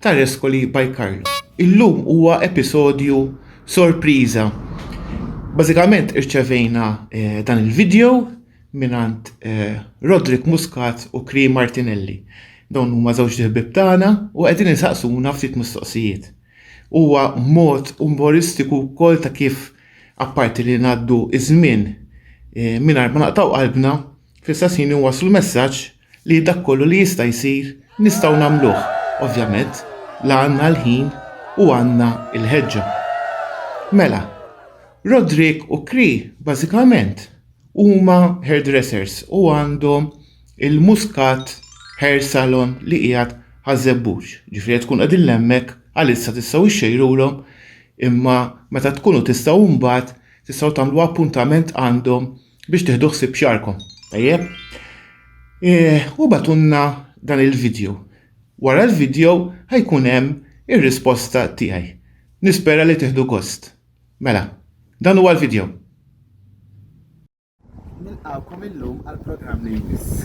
ta' Rescoli by Carlo. Illum huwa episodju sorpriża. Bażikament irċevejna eh, dan il-video minant eh, Roderick Muscat u Kri Martinelli. Dawn huma żewġ ħbib tagħna u qegħdin insaqsuna ftit mistoqsijiet. Huwa mod umoristiku wkoll ta' kif apparti li ngħaddu iż-żmien eh, mingħajr ma naqtaw qalbna, fl-istess ħin waslu messaġġ li dak kollu li jista' jsir nistgħu nagħmluh. Ovvjament, la għandna l-ħin u għandna l-ħeġġa. Mela, Roderick u Kri bażikament huma hairdressers u għandhom il-Muscat Hair Salon li qiegħed ħażebbux. Ġifieri tkun qegħdin lemmek għalissa tistgħu ixxejrulhom imma meta tkunu tistgħu mbagħad tistgħu tagħmlu appuntament għandhom biex tiħdu ħsib xarkom. Tajjeb? E, u batunna dan il-video. Wara l-video ħajkun hemm ir-risposta tiegħi. Nispera li tiħdu gost. Mela, dan huwa l-video. Nilqawkom illum għal programm li jmiss.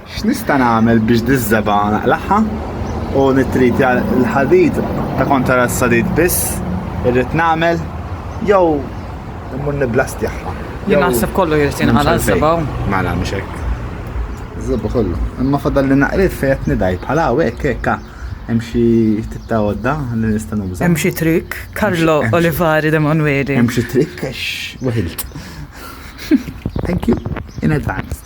X'nista' nagħmel biex diż-żebgħa naqlagħha u nittritja l-ħadid ta' kontra s-sadid biss irrid nagħmel jew immur nibblastjahha? Jien naħseb kollu jrid jinqala' ż-żebgħa. Mela mhux hekk. Żebgħa kollu. Imma fadalli naqriet fejn qed nidgħi bħal hawnhekk hekk hemm xi tip ta' għodda li nista' nuża. Hemm xi trikk, Karlo Olivari de Manueli. Hemm xi trikk għax weħilt. Thank you in advance.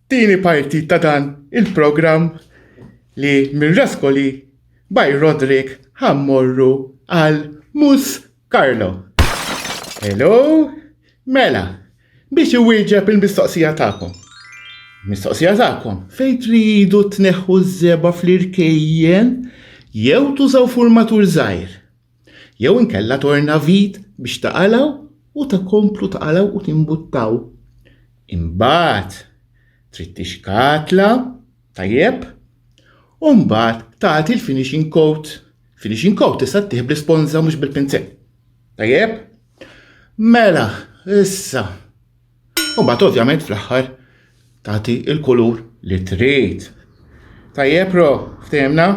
Tieni parti ta' dan il-programm li mir-Raskoli by Roderick ħa mmorru għal Mus Carlo. Hello? Mela, biex iwieġeb il-mistoqsija tagħkom. Mistoqsija tagħkom, fejn tridu tneħħu ż-żeba fl-irkejjen jew tużaw furmatur żgħir? Jew inkella torna vit biex taqalgħu u tkomplu taqalgħu u timbuttaw. Imbagħad trid tixkatla tajjeb u mbagħad tagħti l-finishing coat. Finishing coat tista' tih bl-isponża mhux bil-pinzett. Tajjeb? Mela, issa U mbagħad ovvjament fl-aħħar tagħti il-kulur li trid. Tajjeb ro, ftehimna?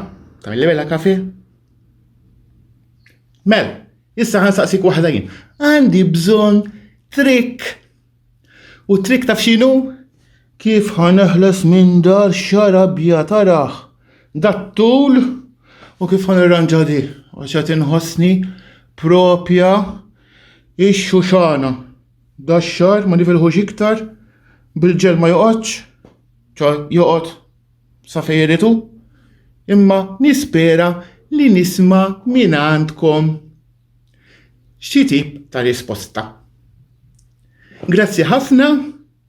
Tajli bella kafe? Mel, issa ħansaqsik waħda jien. Għandi bżonn trik. U trik taf x'inhu? Kif ħaneħles minn dar xarabja taraħ? Dat-tul u kif ħanirranġa di? Għax qed inħossni propja ix-xuxana. Da x-xahar ma nifilħux iktar bil-ġel ma joqgħodx, ċo joqgħod sa fejn iritu, imma nispera li nisma' minn għandkom xi tip ta' risposta. Grazzi ħafna.